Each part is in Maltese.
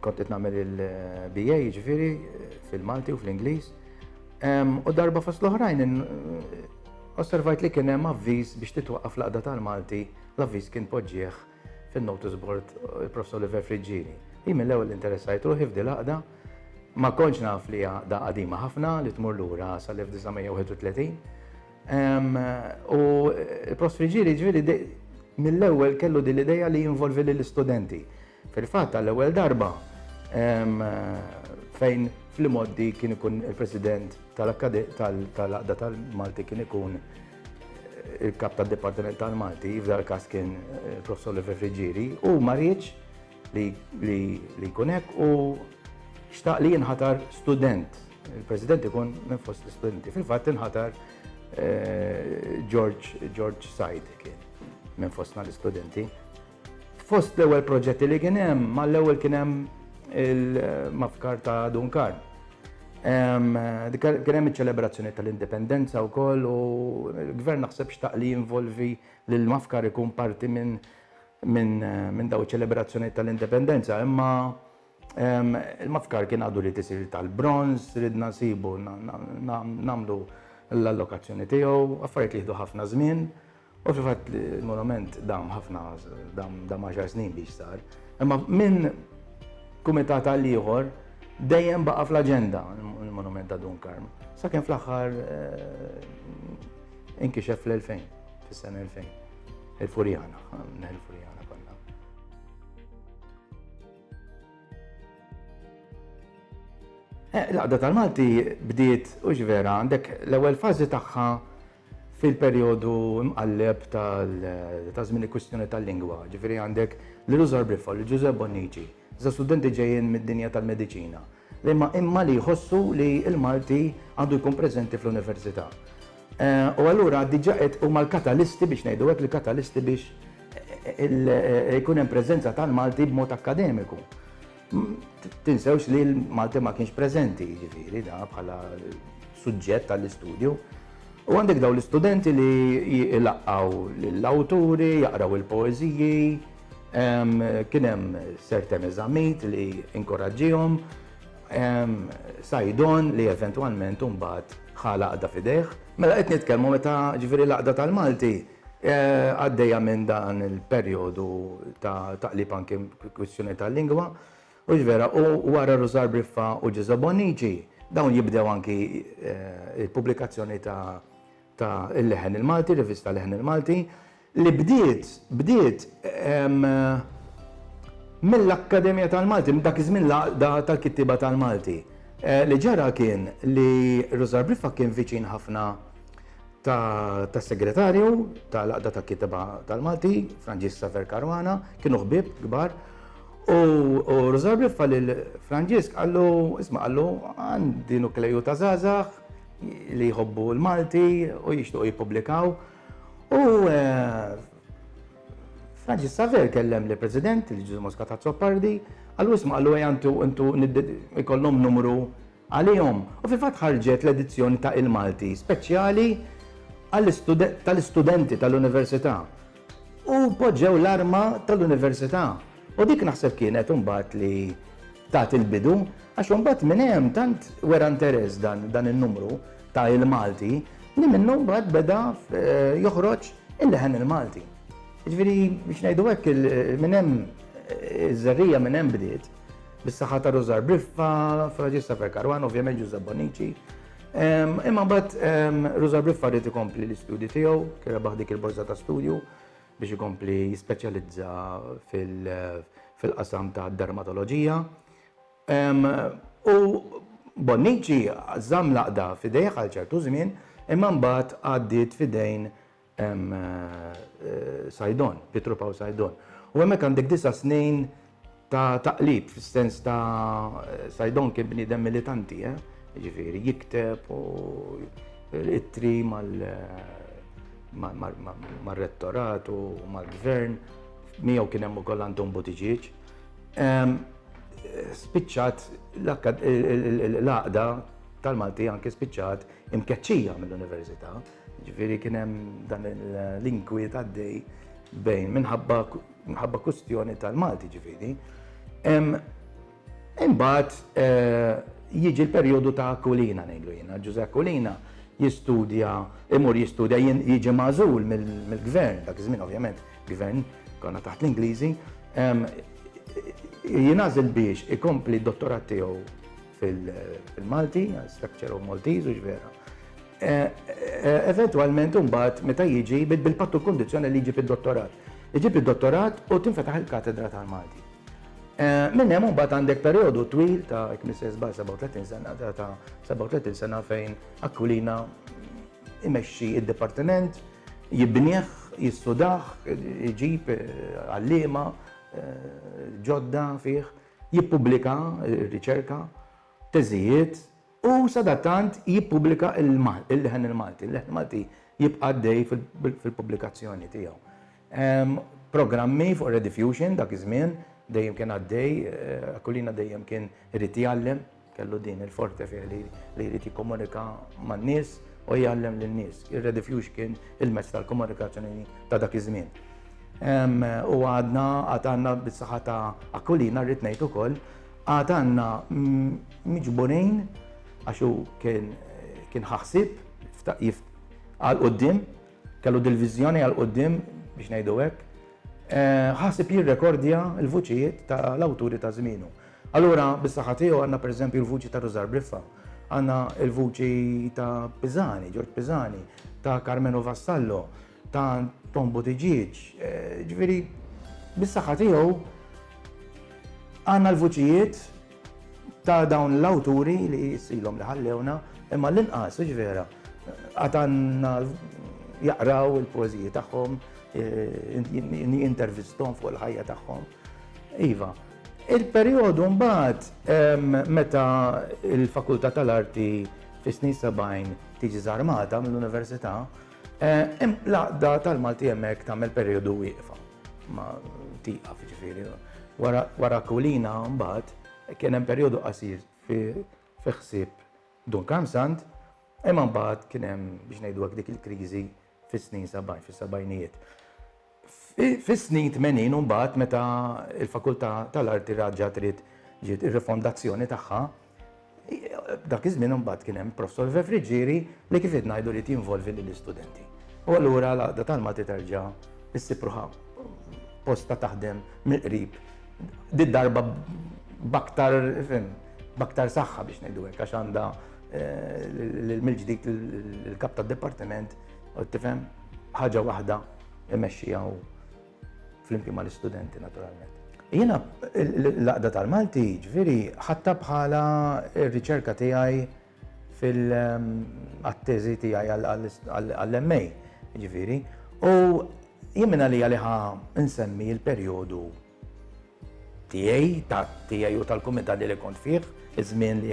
Kont qed nagħmel il-BA jiġifieri fil-Malti u fl-Ingliż. U darba fost l-oħrajn osservajt li kien hemm avviż biex titwaqqaf l-qda tal-Malti, l-avviż kien poġġieħ fin-notice board il-Professor Oliver Friġġini. Hi mill-ewwel interessajt ruħi f'di l-qda ma kontx naf li għada qadima ħafna li tmur lura sal-1931. U il-Professor Friġġini ġifieri mill-ewwel kellu din l-idea li jinvolvi lill-istudenti. Fil-fatt għall-ewwel darba fejn fl-imgħoddi kien ikun il-President tal-Għaqda tal-Malti kien ikun il-Kap tad-Dipartiment tal-Malti, f'dan il-każ kien Professor Oliver Friggieri, u ma riedx li jkun hekk u xtaq li jinħatar student. Il-President ikun minn fost l-istudenti. Fil-fatt inħatar George Said kien minn fostna l-istudenti. Fost l-ewwel proġetti li kien hemm, ma l-ewwel kien hemm il-mafkar ta' Dun Karl. Kien hemm iċ-ċelebrazzjoni tal-Indipendenza wkoll u l-Gvern naħseb xtaq li jinvolvi lil mafkar ikun parti minn daw iċ-ċelebrazzjonijiet tal-Indipendenza. Imma Il-mafkar kien għadu li tisir tal-bronz, ridna nsibu nagħmlu l-allokazzjoni tiegħu, affarijiet li jieħdu ħafna żmien. U fil-fatt il-monument dam ħafna dam għaxar snin biex sar. Imma minn kumitat għal ieħor dejjem baqa' fl-aġenda il-monument ta' Dun Karm. Sakemm fl-aħħar inkixef fl-2000, fis-sena 2000. Il-Furjana, il-Furjana. Eh, l-għaqda tal-Malti bdiet u vera għandek l-ewwel fażi tagħha fil-perjodu mqalleb tal-żmien il-kwistjoni tal-lingwa. Ġifieri għandek l-Luzar Brifol, l-Ġużeb Bonnici, za studenti ġejjin mid-dinja tal-mediċina. Liema imma li jħossu li l-Malti għandu jkun preżenti fl-Università. U allura diġà qed huma l-katalisti, biex ngħidu hekk, l-katalisti biex ikun hemm preżenza tal-Malti b'mod akkademiku. Tinsewx li l-Malti ma kienx preżenti, jiġifieri, da bħala suġġett għall-istudju. U għandek dawn l-istudenti li jlaqqgħu lill-awturi, jaqraw il-poeżiji, Kien hemm certain eżamijiet li inkoraġġihom, Saidon li eventwalment imbagħad ħa l-għaqda f'idejh. Mela qed nitkellmu meta ġifieri l-għaqda tal-Malti għaddejja minn dan il-perjodu ta' taqlib anke kwistjoni tal-lingwa, hux vera, u wara Rużar Briffa u Ġeża Bonnici dawn jibdew anke il-pubblikazzjoni ta' Il-Leħen il-Malti, rivista Leħen il-Malti, li bdiet, bdiet mill-Akkademja tal-Malti, dak iż-żmien l-Għaqda tal-Kittieba tal-Malti. Li ġara kien li Rużar Briffa kien viċin ħafna tas-Segretarju tal-Għaqda tal-Kittieba tal-Malti, Franġisk Saver Caruana, kienu ħbieb kbar, u Rużar Briffa lil Franġisk qallu, isma' qallu, għandi nukleu ta' żgħażagħ li jħobbu l-Malti u jixtiequ jippubblikaw, U Francis Xavier kellem li President, li Ġużu Mosca Tazzopardi, għallu isma għallu għantu intu ikollom numru għalihom. U fil-fat ħarġet l-edizzjoni ta' il-Malti, speċjali tal-istudenti tal-Università. U poġġew l-arma tal-Università. U dik naħseb kienet umbat li tat il-bidu, għax umbat minn hemm tant wera interess dan il-numru, ta' il-Malti li minnu mbagħad beda joħroġ il-leħen il-Malti. Jiġifieri biex ngħidu hekk minn hemm iż-żerriegħa minn hemm bdiet bis-saħħa ta' Rużar Briffa, Fraġista Ferkarwan, ovvjament Ġuża Bonici. Imma mbagħad Rużar Briffa rrid ikompli l-istudju tiegħu, kien rebaħ dik il-borża ta' studju biex ikompli jispeċjalizza fil-qasam ta' dermatoloġija. U Bonnici żamm l-għaqda f'idejh għal ċertu żmien imma mbagħad għaddiet f'idejn Saidon, Pietru Pawl Saidon. U hemmhekk għandek disa' snin ta' taqlib fis-sens ta' Saidon kien bniedem militanti, jiġifieri jikteb u ittri mar-Rettorat u mal-Gvern, miegħu kien hemm ukoll Anton Buttigieg. Spiċċat l-għaqda tal-Malti anke spiċċat imkeċċija mill-Università. Ġifieri kien hemm dan l-inkwiet għaddej bejn minħabba kwistjoni tal-Malti ġifieri. Imbagħad eh, jiġi l-perjodu ta' Kulina ngħidu jiena. Ġuże Kulina jistudja, imur jistudja jiġi mażul mill-gvern dak iż-żmien ovvjament Gvern, konna taħt l-Ingliżi, jinażel biex ikompli d-dottorat tiegħu fil-Malti, structure of Maltese, u vera. E, e, eventualment, mbagħad meta jiġi bil-pattu kondizjoni li jġib id-dottorat. Iġib id-dottorat u tinfetaħ il-katedra tal-Malti. E, minn hemm mbagħad għandek perjodu twil ta' kmisses ba' 37 sena ta' 37 sena fejn akkulina Imexxi d-dipartiment, jibnih, jistudah, iġib għalliema ġodda fih, jippubblika r-riċerka, teżijiet u sadattant jippubblika l-leħen il-Malti. Il-leħen Malti jibqa' għaddej fil-pubblikazzjoni tiegħu. programmi fuq ir-rediffusion dak iż-żmien, dejjem kien għaddej, Aquilina dejjem kien irid jgħallem, kellu din il-forte fih li jrid jikkomunika man-nies u jgħallem lin-nies. Ir-rediffusion kien il-mezz tal-komunikazzjoni ta' dak iż-żmien. U għadna, għad għandna bis-saħħa ta' Aquilina rrid ngħid ukoll, għad għandna miġburin għax hu kien ħa ħsieb għall-quddiem, Kellu dil-viżjoni għal quddiem, biex ngħidu hekk, ħaseb jirrekordja l-vuċijiet ta' l-awturi ta' żmienu. Allura, bis-saħħa tiegħu għandna pereżempju l-vuċi ta' Rużar Briffa, għandna l-vuċi ta' Pisani, Ġorġ Pisani, ta' Karmenu Vassallo, ta' Tom Buttigieg, ġifieri bis-saħħa tiegħu għandna l-vuċijiet ta' dawn l-awturi li jissilhom li ħallewna, imma l-inqas, hux vera, għad għandna jaqraw il-poeżiji tagħhom, jintervistom fuq il-ħajja tagħhom. Iva, il-perjodu mbagħad meta l-Fakultà tal-Arti fis-snin 70 tiġi żarmata mill-Università, l-għaqda tal-Malti hemmhekk tagħmel perjodu wieqfa. Ma tieqaf jiġifieri. Wara Kulina mbagħad kien hemm perjodu qasir fi ħsieb Dun Karmsand, imma mbagħad kien hemm biex ngħidu hekk dik il-kriżi fis-snin 70, fis-sebgħinijiet. Fis-snin 80 mbagħad meta l-Fakultà tal-Arti raġgħet ġiet ir-rifondazzjoni tagħha, Dak iż-żmien imbagħad kien hemm Professor Vefriġieri li kif qed ngħidu ried jinvolvi lill-istudenti. U allura l-Għaqda tal-Malti terġa' issib ruħha posta taħdem mill-qrib did-darba b'aktar fim, b'aktar saħħa biex ngħidu hekk għax għandha eh, mill-ġdid il-kap tad-dipartiment u tifhem ħaġa waħda imexxija Flimkien mal-istudenti naturalment. Jiena l-Għaqda tal-Malti, ġifieri, ħadta bħala r-riċerka tiegħi fil-teżi tiegħi għall-MA, ġifieri, u jien minn għalija li ħa nsemmi l-perjodu tiegħi, ta' tiegħi u tal-kumitat li kont fih, iż-żmien li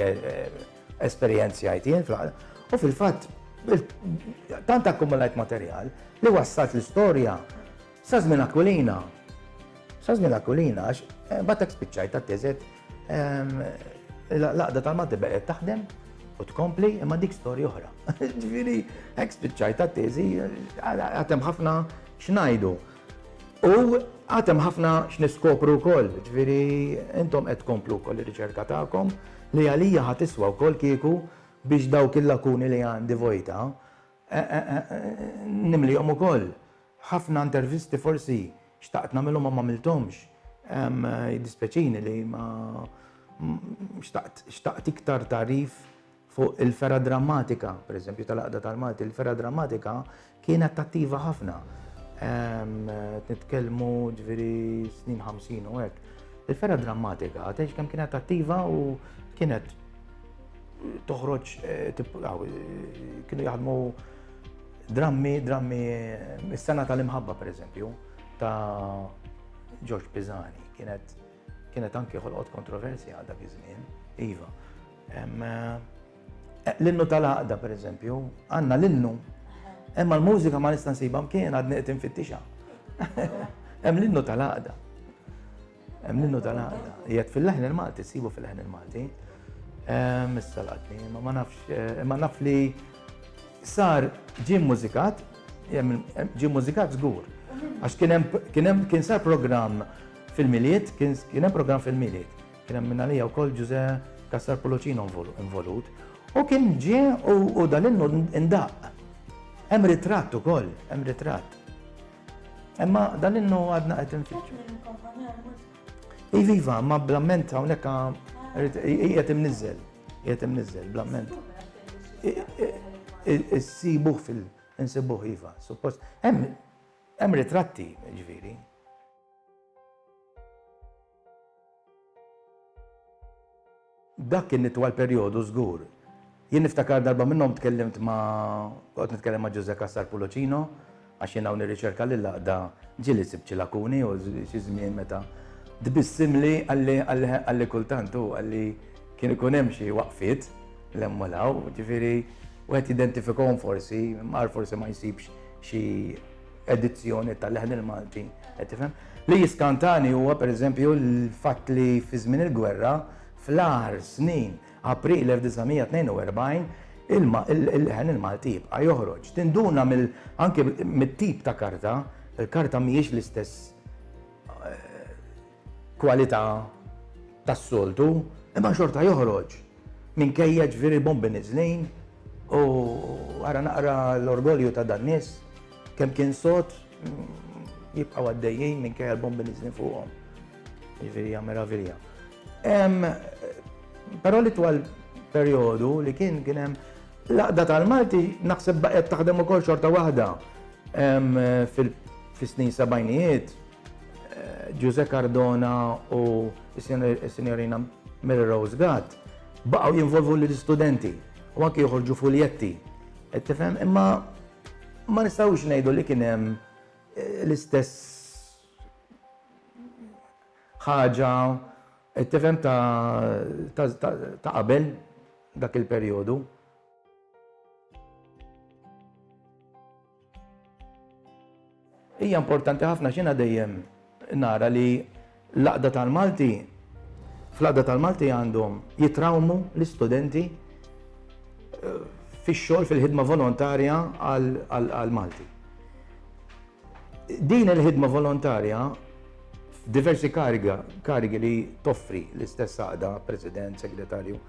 esperjenzjajt jien fl-għaqda. U fil-fatt, tant akkumulajt materjal li wassalt l-istorja sa żmien Aquilina. Sa żmien Aquilina għax imbagħad hekk spiċċajt għat-teżet l-għaqda tal-Malti baqgħet taħdem u tkompli imma dik storja oħra. Ġifieri hekk spiċċajt għat-teżi għad hemm ħafna x'ngħidu. U għad hemm ħafna x'niskopru wkoll, ġifieri intom qed tkomplu wkoll ir-riċerka tagħkom li għalija ħa tiswa wkoll kieku biex dawk il-lakuni li għandi vojta nimlihom ukoll. Ħafna intervisti forsi xtaqt nagħmilhom ma m'għamilthomx. Jiddispjaċini li ma xtaqt iktar tarif Fuq il-fergħa drammatika, pereżempju tal-Għaqda tal-Malti, il-fergħa drammatika kienet attiva ħafna. Nitkellmu ġifieri snin 50 u hekk. Il-fergħa drammatika għatex kemm kienet attiva u kienet toħroġ eh, eh, kienu jaħdmu drammi, drammi, eh, is-sena tal-imħabba per eżempju, ta' George Pisani, kienet kienet anke ħolqot kontroversja għal dak iż-żmien, iva. L-innu tal-għaqda, per eżempju, għanna l-innu. Emma l-mużika ma nista' nsibha mkien għad qed infittixa. Hemm l-innu tal-għaqda. Hemm l-innu tal-għaqda. Jgħid fil-leħn il-Malti, sibu fil-leħn il-Malti. Missa l-għadni, ma ma nafx, eh, ma naf li sar ġim mużikat, ġim mużikat żgur. Għax kien hemm kien sar programm fil-miliet, kien hemm programm fil-miliet. Kien hemm minn għalija wkoll Ġużè Cassar Pullucino involut. U kien ġie u dan innu ndaqq. Hemm ritratt ukoll, hemm ritratt. Imma dan innu għadna qed infittxu. Iva, iva, ma blamment hawnhekk qiegħed imniżżel, qiegħed imniżżel blamment. Issibuh fil- insibuh iva, suppost. Hemm ritratti, ġifieri. Dak kien itwal perjodu żgur. Jien niftakar darba minnhom tkellimt ma' kont nitkellem ma' Ġużè Cassar Pulocino għax jien hawn nirriċerka lill-għaqda ġieli sibt xi lakuni u xi żmien meta tbissimli qalli qalli kultant hu qalli kien ikun hemm xi waqfiet 'l hemm u 'l hawn, jiġifieri wieħed jidentifikahom forsi mar forsi ma jsibx xi edizzjoni tal-leħen il-Malti, qed tifhem? Li jiskantani huwa pereżempju l-fatt li fi żmien il-gwerra fl-aħħar snin April 1942 il-leħen il-Malti jibqa' joħroġ. Tinduna anke mit-tip ta' karta, il-karta mhijiex l-istess eh, kwalità tas-soltu, imma xorta joħroġ minkejja ġifieri bombi niżlin u ara naqra l-orgolju ta' dan nies kemm kien sod jibqgħu għaddejjin minkejja l-bombi niżlin fuqhom. Ġifieri hija meravilja. Però li twal perjodu li kien kien hemm l-għaqda tal-Malti naħseb baqgħet taħdem ukoll xorta waħda fis-snin sebgħinijiet Ġużè Cardona u s-Sinjorina Mary Rose Gatt baqgħu jinvolvu lill-istudenti u anke joħorġu fuljetti. Qed tifhem? Imma ma nistgħux ngħidu li kien hemm l-istess ħaġa qed tifhem ta' qabel dak il-perjodu. Hija importanti ħafna għax jiena dejjem nara li l-għaqda tal-Malti, fl-għaqda tal-Malti għandhom jitrawmu l-istudenti eh, fix-xogħol fil-ħidma volontarja għal-Malti. Din il-ħidma volontarja diversi kariga, karigi li toffri l-istess għaqda, president, segretarju,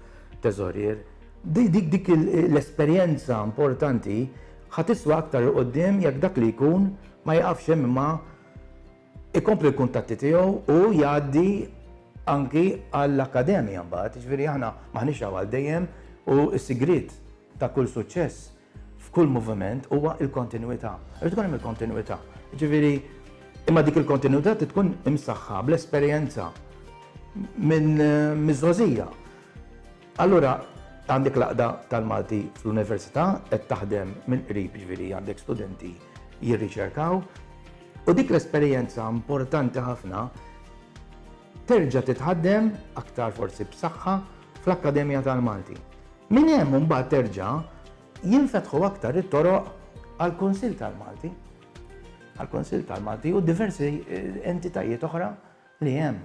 teżorier, dik dik l-esperjenza importanti Ħa tiswa aktar 'il quddiem jekk dak li jkun ma jiqafx hemm imma jkompli l-kuntatti tiegħu u jgħaddi anki għall-akkademja mbagħad. Jiġifieri aħna m'aħniex hawn għal dejjem u s-sigriet ta' kull suċċess f'kull moviment huwa l-kontinwità. Irid ikun hemm il-kontinwità. Jiġifieri imma dik il-kontinwità trid tkun imsaħħa bl-esperjenza minn miż-żgħożija. Allura għandek l-Għaqda tal-Malti fl-Università qed taħdem mill-qrib, jiġifieri għandek studenti jirriċerkaw, u dik l-esperjenza importanti ħafna terġa' titħaddem aktar forsi b'saħħa fl-Akkademja tal-Malti. Minn hemm imbagħad terġa' jinfetħu aktar it-toroq għall-Kunsill tal-Malti, għall-Kunsill tal-Malti u diversi entitajiet oħra li hemm.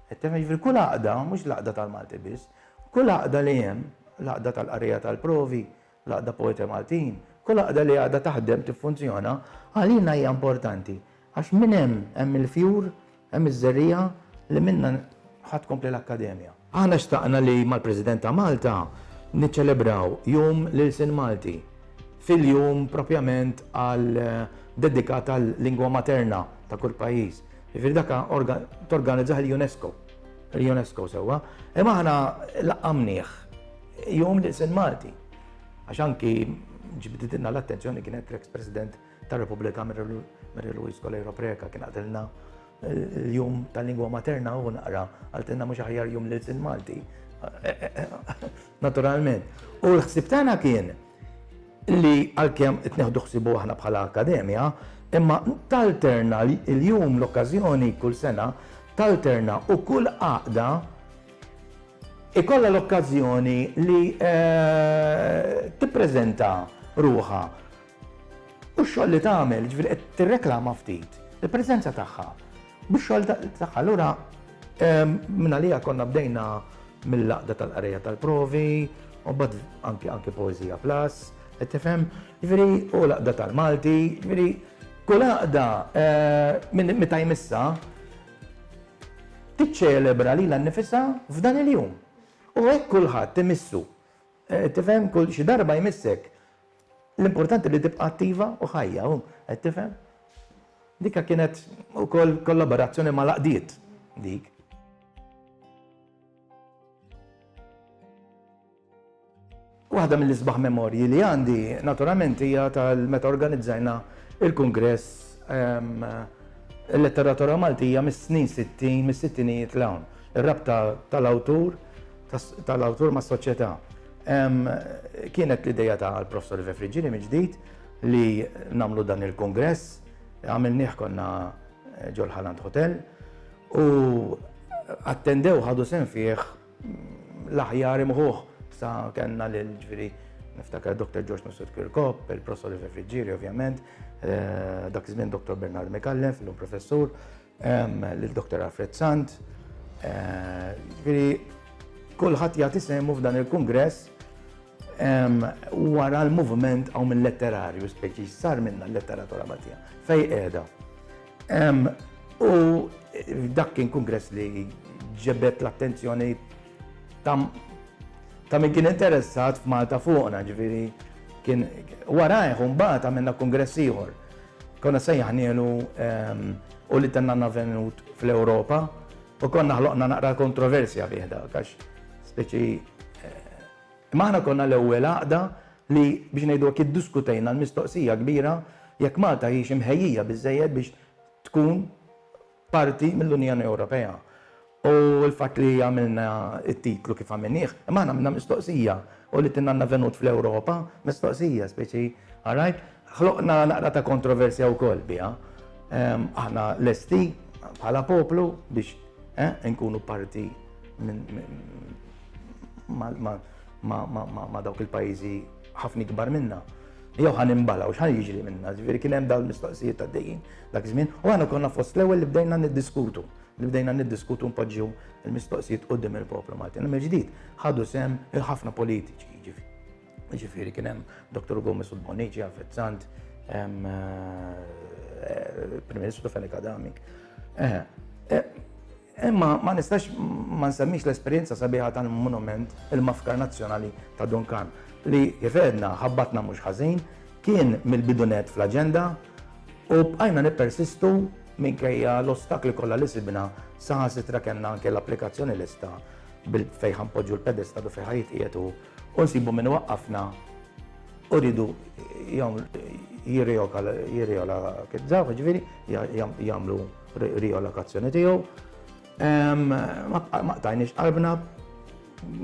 Qed tifhem? Jiġifieri kull għaqda, mhux l-għaqda tal-Malti biss, kull għaqda li hemm, l-għaqda tal-qarrejja tal-provi, l-għaqda Poeti Maltin, kull għaqda li għadha taħdem, tiffunzjona, għalina hija importanti għax minn hemm hemm il-fjur, hemm iż-żerriegħa li minnha ħa tkompli l-Akkademja. Aħna xtaqna li mal-President ta' Malta niċċelebraw Jum l-Ilsien Malti fil-jum propjament għal dedikat għal-lingwa materna ta' kull pajjiż, Jiġifieri dak torganizzah il-UNESCO. Il-UNESCO sewwa. Imma aħna laqqamnieh jum li jsir Malti. Għax anki ġbditilna l-attenzjoni kienet l-eks President tar-Repubblika Mary Louise Coleiro Preca kien għatilna l-jum tal-lingwa materna u naqra għaltilna mhux aħjar jum li jsir Malti. Naturalment. U l-ħsib tagħna kien li għalkemm qed neħdu ħsiebu aħna bħala akkademja, imma talterna l-jum, l-okkażjoni kull sena, talterna u kull għaqda ikollha l-okkażjoni li tippreżenta ruħha u x-xogħol li tagħmel, jiġifieri qed tirreklama ftit il-preżenza tagħha Bix-xogħol tagħha lura mingħaliha konna bdejna mill-laqda tal-qrejja tal-provi, u mbagħad anki anki poeżija plus, qed tifhem? Jiġifieri u laqda tal-Malti, jiġifieri kull għaqda eh, meta jmissa tiċċelebra lilha nnifisha f'dan il-jum. U hekk kulħadd imissu. Eh, tifhem kull xi darba jmissek L-importanti li tibqa' attiva u ħajja, hu, qed tifhem? Dika kienet ukoll kollaborazzjoni mal-għaqdiet dik. Waħda mill-isbaħ memorji li għandi naturalment hija tal-meta organizzajna il-Kungress ehm, il-letteratura Maltija mis-snin 60, mis-sittinijiet l-hawn. Ir-rabta tal-awtur tal-awtur ma' soċjetà. Kienet l-ideja ta' l-Professor Ive Friggini minn ġdid li namlu dan il-kongress, għamilnieh konna ġol Haland Hotel u attendew ħadu sen fih l-aħjar imħuħ sa kellna lil ġviri niftakar Dr. George Nusut Kirkop, il-Professor Ive Friggiri ovvjament, eh, dak iż-żmien Dr. Bernard Mikallef, l-lum professur, lil Dr. Alfred Sant, jiġifieri kulħadd jagħti sehmu f'dan il-kungress wara l-moviment hawn mil-letterarju speċi sar minnha l-letteratura Maltija fejn qiegħda. U dak kien kungress li ġibed l-attenzjoni ta' min kien interessat f'Malta fuqna, jiġifieri kien warajh u mbagħad għamilna kungress ieħor Konna sejjaħnielu u li tennanna venut fl-Ewropa u konna ħloqna naqra kontroversja bih dak għax speċi Maħna konna l-ewwel għaqda li biex ngħidu kif diskutejna l-mistoqsija kbira jekk Malta hix imħejjija biżejjed biex tkun parti mill-Unjoni Ewropea u l-fatt li għamilna t-titlu kif għamilnieh, imma aħna għamilna mistoqsija u li tinna għandna venut fl-Ewropa, mistoqsija, speċi, għarajt, ħloqna naqra ta' kontroversja wkoll biha. Aħna lesti bħala poplu biex inkunu parti ma' dawk il-pajjiżi ħafna ikbar minna. Jew ħa nimbalgħu, x'ħa jiġri minna? Ġifieri kien hemm dawn il-mistoqsijiet għaddejjin. dak iż-żmien, u aħna konna fost l-ewwel li bdejna niddiskutu, li bdejna niddiskutu npoġġu l-mistoqsijiet quddiem il-poplu Malti. Għal mill-ġdid ħadu sehem il-ħafna politiċi, jiġifieri. Jiġifieri kien hemm Dr. Gomez u Bonici, Alfred Sant, hemm eh, Prim Ministru Felix Adami. Eh, eh, Imma ma nistax ma nsemmix l-esperjenza sabiħa tal-monument il-Mafkar Nazzjonali ta' Duncan li, kif għedna, ħabbatna mhux ħażin, kien mill-bidu nett fl-aġenda u bqajna nippersistu minkejja l-ostakli kollha li sibna, saħansitra kellna anke l-applikazzjoni lesta fejn ħa npoġġu l-pedestal u fejn ħa jitqiegħed hu u nsibu min iwaqqafna u rridu jirreola, jiżgħu, jiġifieri jagħmlu. riolokazzjoni tiegħu. Ma qtajniex qalbna,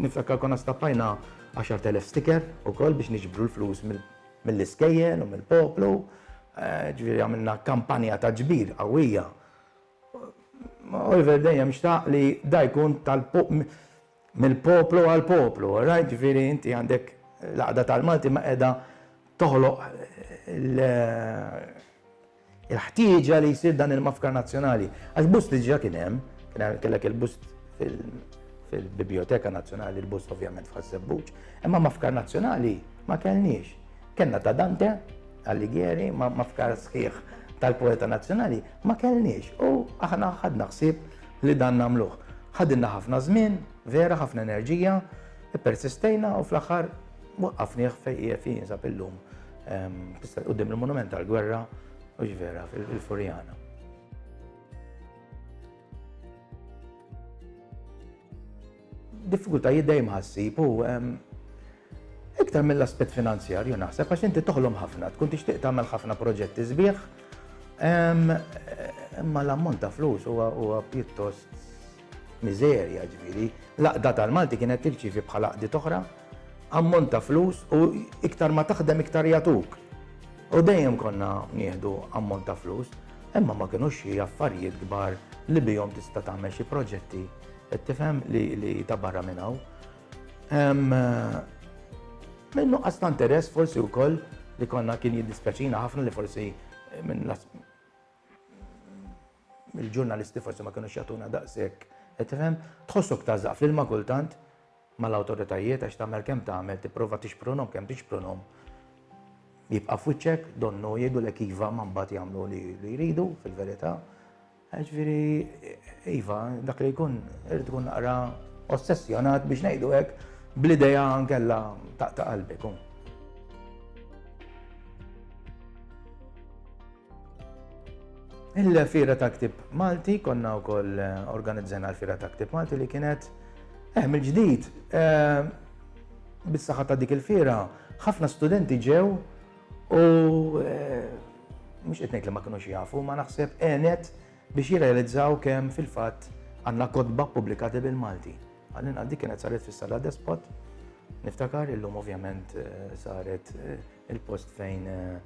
niftakka konna stappajna 10,000 sticker u koll biex niġbru l-flus mill-iskejjel u mill-poplu, eh, ġviri għamilna kampanja ta' ġbir għawija. Oliver dejjem xtaq li dajkun tal-poplu mill-poplu għall-poplu, orajt? Ġifieri inti għandek l-għaqda tal-Malti ma qiegħda toħloq il-ħtieġa li jsir dan il-mafkar nazzjonali. Għax bust li ġa kien hemm, kellek il-bust fil-Biblioteka Nazzjonali, il-bust ovvjament f'Ħassebbuċ, imma mafkar nazzjonali ma kellniex. Kenna ta' Dante, Alighieri, mafkar sħiħ tal-poeta nazzjonali, ma kellniex. U aħna ħadna ħsieb li dan nagħmluh. Ħadilna ħafna żmien, vera, ħafna enerġija, ippersistejna u fl-aħħar waqqafnieh fejn qiegħed fih jinsab illum quddiem il-Monument tal-Gwerra u ġvera fil-Furjana. Diffikultajiet dejjem ħassib u iktar mill-aspett finanzjarju naħseb għax inti toħlom ħafna, tkun tixtieq tagħmel ħafna proġetti sbieħ. Imma l-ammont ta' flus huwa pjuttost miżerja ġifieri. L-aqda tal-Malti kienet tirċievi bħala qdiet oħra ammont ta' flus u iktar ma taħdem iktar jagħtuk. U dejjem konna nieħdu ammont ta' flus, imma ma kienux xi affarijiet kbar li bihom tista' tagħmel xi proġetti Qed tifhem li ta' barra minn hawn. Minn nuqqas ta' interess forsi wkoll li konna kien jiddispjaċina ħafna li forsi minn il-ġurnalisti forsi ma kienux jagħtuna daqshekk. Qed tifhem? Tħossok tażaq fl-ilma kultant mal-awtoritajiet għax tagħmel kemm tagħmel tipprova tixprunhom kemm tixprunhom. Jibqa' f'wiċċek donnu jgħidulek iva ma mbagħad jagħmlu li jridu fil-verità. Jiġifieri, iva, dak li jkun irid ikun naqra ossessjonat biex ngħidu hekk bl-idea nkella taqta' qalbek. Oh. Il-fira ta' ktib Malti, konna u koll eh, organizzena l-fira ta' ktib Malti li kienet eh, mill-ġdid. Eh, bis-saħħa ta' dik il-fira, ħafna studenti ġew u eh, mhux qed ngħid li ma kinux jafu, ma naħseb għenet biex jirrealizzaw kemm fil-fatt għandna kotba pubblikati bil-Malti. Għallin għal dik kienet saret fis-sala despot, niftakar illum ovvjament eh, saret eh, il-post fejn eh,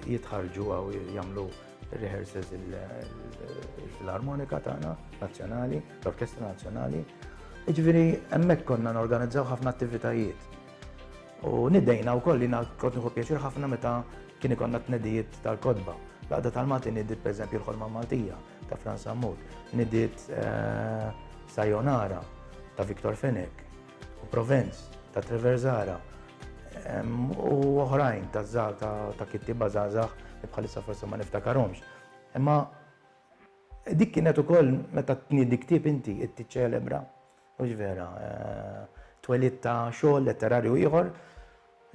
jitħarġu għaw jamlu rehearsals il-Filarmonika tagħna nazzjonali, l-Orkestra Nazzjonali. Iġviri, hemmhekk konna norganizzaw ħafna attivitajiet. U nidejna wkoll, jiena kont nieħu pjaċir ħafna meta kien ikollna t-tnedijiet tal-kotba. L-Għaqda tal-Malti nidiet pereżempju l-Ħolma Maltija ta' Frans Sammut, nidiet Sayonara ta' Victor Fenech, u Provence ta' Trevor Zahra, u oħrajn ta' kittieba żgħażagħ li bħalissa forsi ma niftakarhomx. Imma dik kienet ukoll meta tniedi ktieb inti, qed tiċċelebra Mhux vera. Twelid ta' xogħol letterarju ieħor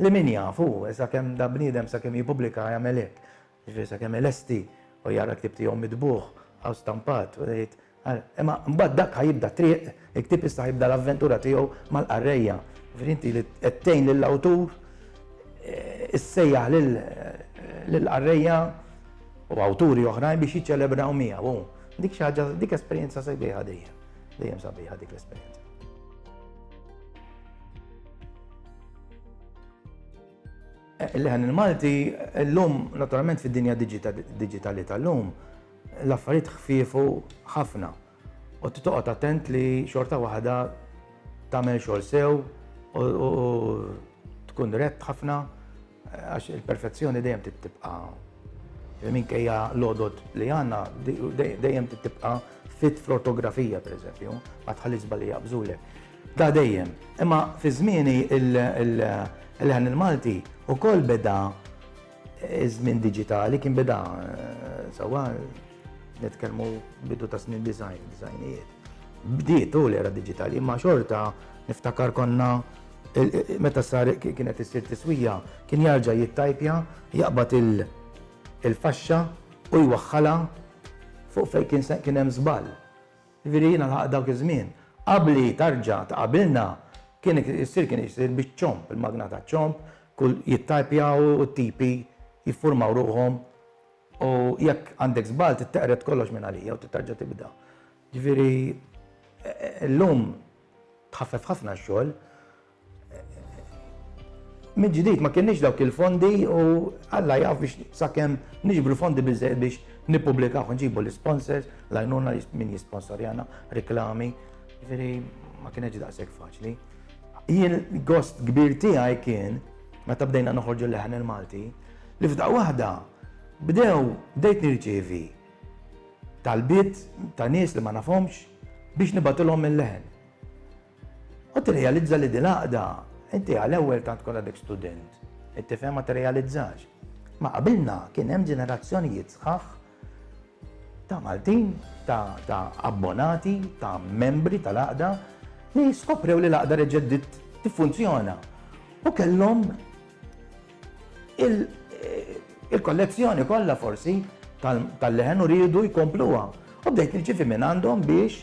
li min jaf hu, sakemm dan bniedem sakemm jippubblika jagħmel hekk. Jiġifieri sakemm ilesti u jara l-ktieb tiegħu mitbugħ aw stampat u jgħid, imma mbagħad dak ħa jibda t-triq, il-ktieb issa ħa jibda l-avventura tiegħu mal-qarrejja. Jiġifieri inti li qed tgħin lill-awtur issejjaħ lill-qarrejja u awturi oħrajn biex jiċċelebraw miegħu. Dik xi ħaġa, dik esperjenza sabiħa dejjem. Dejjem sabiħa dik l-esperjenza. Leħen il-Malti, l-lum, naturalment fid-dinja digitali tal-lum, l-affarijiet ħfifu ħafna. U t-toqot attent li xorta waħda tamel xol sew u tkun rett ħafna Għax il-perfezzjoni dejjem trid tibqa' minkejja l-għodod li għandna dejjem trid tibqa' fit fl-ortografija pereżempju, ma tħalli żbalji jaqbżulek. Da dejjem. Imma fi żmieni il-leħen il-Malti ukoll beda żmien diġitali kien beda sewwa nitkellmu bidu ta' snin design, designijiet. Bdiet u l-era diġitali, imma xorta niftakar konna Meta sar kien qed issir tiswija, kien jarġa' jittajpja, jaqbad il-faxxa u jwaħħalha fuq fejn kien se kien hemm żball. Jiġifieri jiena lħaqt dawk iż-żmien. Qabli tarġa' ta' qabilna kien issir kien issir biċ-ċomb, il-magna taċ-ċomb, kull jittajpja u t-tipi jiffurmaw ruħhom u jekk għandek żball titteqred kollox minn għalija u trid terġa' tibda. Jiġifieri llum. Tħaffef ħafna x-xogħol. Mill-ġdid ma kienniex dawk il-fondi u Alla jaf biex sakemm niġbru fondi biżżejjed biex nippubblikaw, nġibu l-isponsors, l-għajnuna min jisponsorjana, reklami, ġifieri ma kienx daqshekk faċli. Jien gost kbir tiegħi kien meta bdejna noħorġu l-leħen il-Malti li f'daqqa waħda bdew bdejt nirċievi talbiet ta' nies li ma nafhomx biex nibgħatilhom il-leħen. U tirrealizza li din għaqda inti għal ewwel tant kont għadek student. Qed tifhem ma tirrealizzax. Ma qabilna kien hemm ġenerazzjonijiet sħaħ ta' Maltin, ta', ta abbonati, ta' membri tal-għaqda li skoprew li l-għaqda reġeddit tiffunzjona. U kellhom il-kollezzjoni kollha forsi tal-leħen u riedu jkompluha. U bdejt nirċievi minn għandhom biex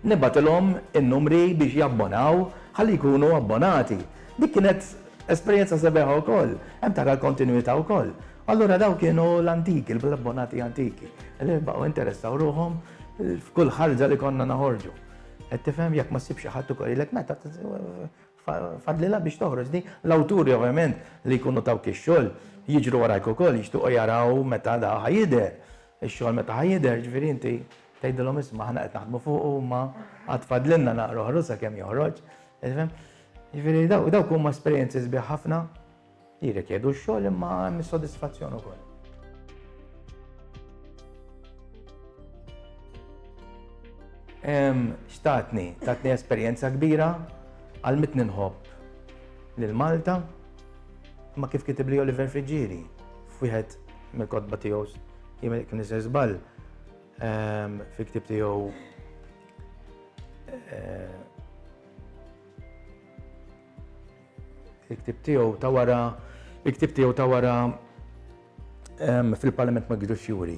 nibgħatilhom in-numri biex jabbonaw ħalli jkunu abbonati. Dik kienet esperjenza sebiħa wkoll, hemm tara l-kontinwità wkoll. Allura dawk kienu l-antiki, l-abbonati antiki, li baqgħu jinteressaw ruħhom f'kull ħarġa li konna noħorġu. Qed tifhem, jekk ma ssibx xi ħadd ukoll jgħidlek meta Fadlilha biex toħroġ din. L-awturi ovvjament li jkunu tawk ix-xogħol jiġru warajk ukoll, jixtiequ jaraw meta da ħa jidher. Ix-xogħol meta ħa jidher, ġifieri inti tgħidilhom isma' aħna qed naħdmu fuqu imma għad fadlilna naqra oħra sakemm joħroġ. Tifhem? Ġifieri dawk huma esperjenzi sbieħ ħafna. Jirrikjedu x-xogħol imma hemm is-sodisfazzjon ukoll. Xtatni, tatni esperjenza kbira, għal mit ninħobb lil Malta, ma kif kitib li Oliver Friġġieri, f'wieħed mill-kotba tiegħu jien kien iżgħir żball ehm, fil-ktib tiegħu eh, Il-ktieb tiegħu ta' wara il-ktieb tiegħu ta' wara fil-Parlament ma jgidux fjuri.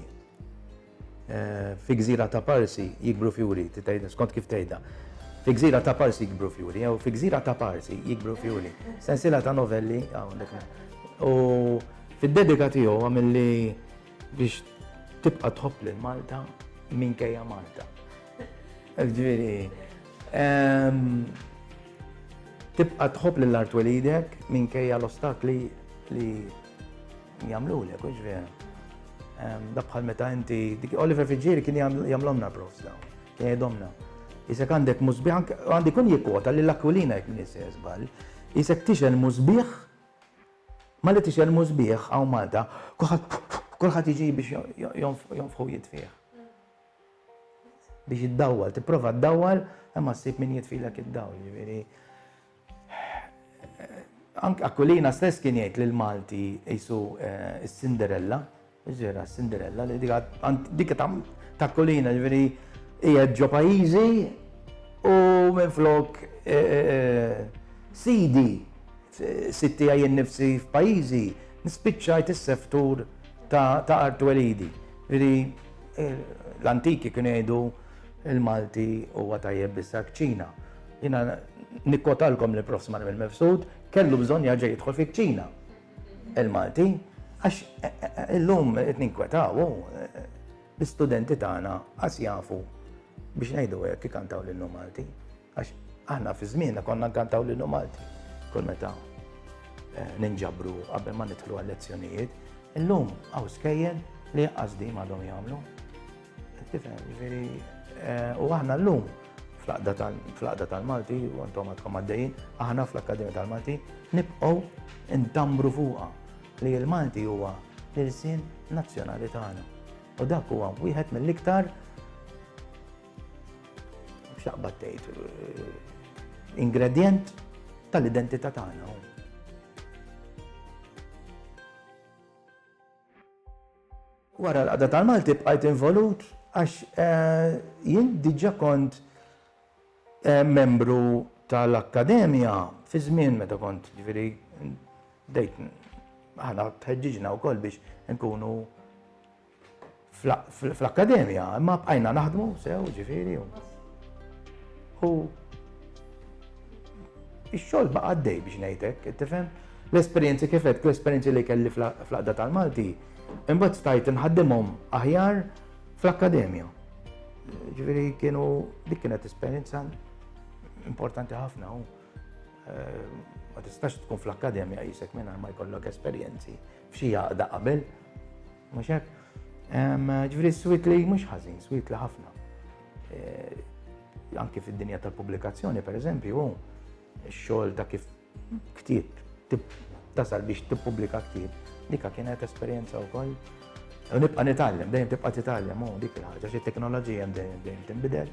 Fi gżira ta' Parsi jikbru fjuri, skont kif tgħidha. Fi gżira ta' Parsi jikbru fjuri, jew fi gżira ta' Parsi jikbru fjuri. Sensiela ta' novelli hawnhekk. U fid-dedika tiegħu għamilli biex tibqa' tħobb lil Malta minkejja Malta. Ġifieri, tibqa' tħobb lil art twelidek minkejja l-ostakli li jagħmlulek, u ġifieri. Dak bħal meta inti, Oliver Friggieri kien jagħmlhomna profs dawn, kien jgħidhomna. Isek għandek musbieħ, għandi kun jikkwota lil Aquilina jekk m'iniex se żball, isek tixgħel musbieħ, malli tixgħel musbieħ hawn Malta, kulħadd jiġi biex jonfħu jitfih. Biex iddawwal, tipprova ddawwal imma ssib min jitfilek id-dawl, jiġifieri anke Aquilina stess kien jgħid lil Malti qisu s-Cinderella, ġifieri s-Cinderella li dik ta' Aquilina jiġifieri qiegħed ġo pajjiżi u minflok sidi Fis-sit tiegħi innifsi f'pajjiżi spiċċajt is-seftur ta' art twelidi. Ġifieri l-antiki kienu jgħidu l-Malti huwa tajjeb bis-sakċina. Jiena nikkotalkom li l-Prof. Smail Mifsud kellu bżonn jerġa' jidħol fiċ-ċina l-Malti għax illum qed ninkwetaw u l-istudenti tagħna qas jafu biex ngħidu hekk ikantaw lil Malti. Għax aħna fi żmienna konna nkantaw lilu Malti. Kull meta eh, ninġabru qabel ma nidħlu għal-lezzjonijiet, illum għaw skejjel li għazdi madhom jagħmlu. Tifhem, ġifieri eh, u aħna llum fl-aqda tal-Malti, u għantom għadkom għaddejjin, aħna fl-Akkademja tal-Malti, nibqgħu ntambru fuqha li l-Malti huwa l-irsin nazzjonali tagħna. U dak huwa wieħed mill-iktar X'taqbad tgħid eh, ingredjent tal-identità tagħna. Wara l-qada tal-Malti bqajt involut għax eh, jien diġa kont eh, membru tal-Akkademja fi żmien meta kont ġifieri dejt ħana tħeġġiġna wkoll biex nkunu fl-akkademja, imma bqajna naħdmu, sew, ġifiri. U ix-xogħol baqa' għaddej biex ngħidlek, tifhem? L-esperjenzi kif qed, l-esperjenzi li kelli fl-qadda tal-Malti, imbagħad stajt inħaddimhom aħjar fl-akkademja. Ġifiri kienu dik kienet esperjenza importanti ħafna u eh, ma tistax tkun fl-akkademja jisek minn ma jkollok esperjenzi. F'xi għaqda qabel, mhux hekk? Ġifieri s-swit li mhux ħażin, swit li ħafna. Eh, anki fid-dinja tal-pubblikazzjoni, pereżempju, x-xogħol ta' kif ktieb tasal biex tippubblika ktieb, dika kienet esperjenza wkoll. U nibqa' nitgħallem, dejjem tibqa' titgħallem, u dik il-ħaġa, xi teknoloġija dejjem tinbidel.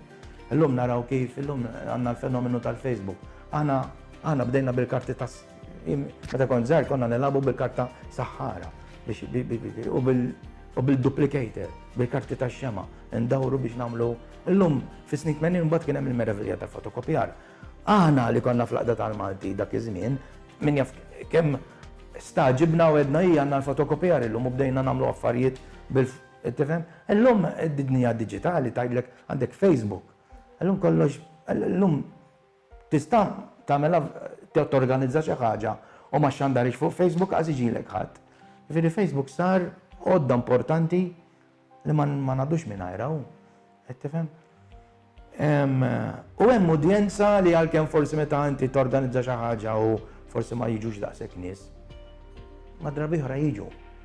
Illum naraw kif, illum għandna l-fenomenu tal-Facebook. Aħna bdejna bil-karti tas Meta kont żgħir konna nilagħbu bil-karta saħħara u bil-duplicator, bil-karti tax-xema, ndawru biex nagħmlu. Illum fis-snin 80 mbagħad kien hemm il-meravilja tal-fotokopjar. Aħna li konna fl-Aqda tal-Malti dak iż-żmien, min jaf kemm staġibna u għedna hija għandna l-fotokopjar illum u bdejna nagħmlu affarijiet bil Tifhem? Illum id-dinja diġitali tgħidlek għandek Facebook. Illum kollox, illum Tista' tagħmilha torganizza xi ħaġa u ma xxandarhiex fuq Facebook qas iġilek ħadd. Jiġifieri Facebook sar għodda importanti li ma ngħaddux mingħajrha u qed tifhem? U hemm udjenza li għalkemm forsi meta inti torganizza xi ħaġa u forsi ma jiġux daqshekk nies, ma drabi oħra jiġu.